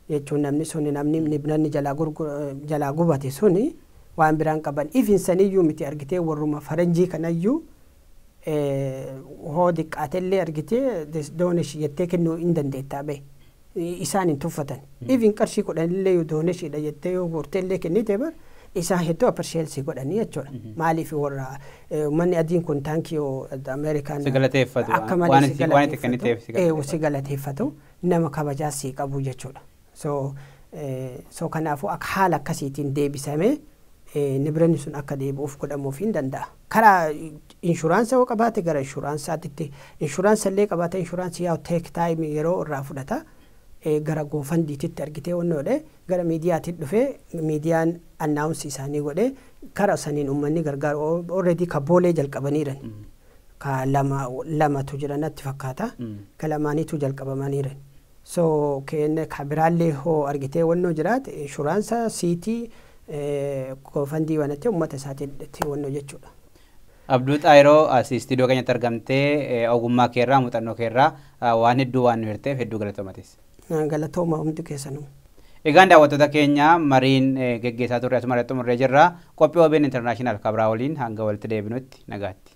jechuun namni suni namni nibnanni jalaa gurgu jalaa gubate suni waan biraan qaban even saniyyuu miti argitee warruma faranjii kanayyuu hoo diqqaatellee argitee this doonesh jettee kennuu in dandeettaa bee isaan hin tuffatan even qarshii kudhanillee yoo dooneshiidha jettee yoo guurteellee kennite bar isaan hedduu appreciate si godhanii jechuudha maaliif warra ummanni adiin kun taankiyoo Ameerikaan si galateeffatu akka malee waan si itti waan itti kenniteef si galateeffatu. galateeffatu nama kabajaa sii qabu jechuudha. So, so kanaafuu akka haala akkasiitiin deebisamee nibranni sun akka deebi'uuf godhamuuf hin danda'a. Karaa inshuraansa yoo qabaate gara inshuraansaatitti inshuraansa illee qabaate inshuraansii yaa teek taayimii yeroo irraa fudhata. gara goofandiititti argitee wannoodhe gara miidiyaatiin dhufee miidiyaan annaawunsi isaanii godhe kara saniin uummanni gargaaru alreedii ka boolee jalqabaniiran ka lama lamatu jira natti fakkaata ka lamaaniituu jalqabamaniire so kn ka biraallee hoo argitee wannoo jiraate inshuraansa siitii koofandii banattee ummata isaatiitti wannoo jechuudha. Abduu Xaayiroo as istiidiyoo keenyatti argamtee ogummaa keerraa muuxannoo keerraa waan hedduu waan nu hirteef hedduu galatoomatis. Galatooma hundi keessanuu. Egaan daawwattoota keenya mariin geggeessaa turre asuma irratti xumurree jirra. Qophii OBN International kabraa waliin hanga walitti deebinutti nagaatti.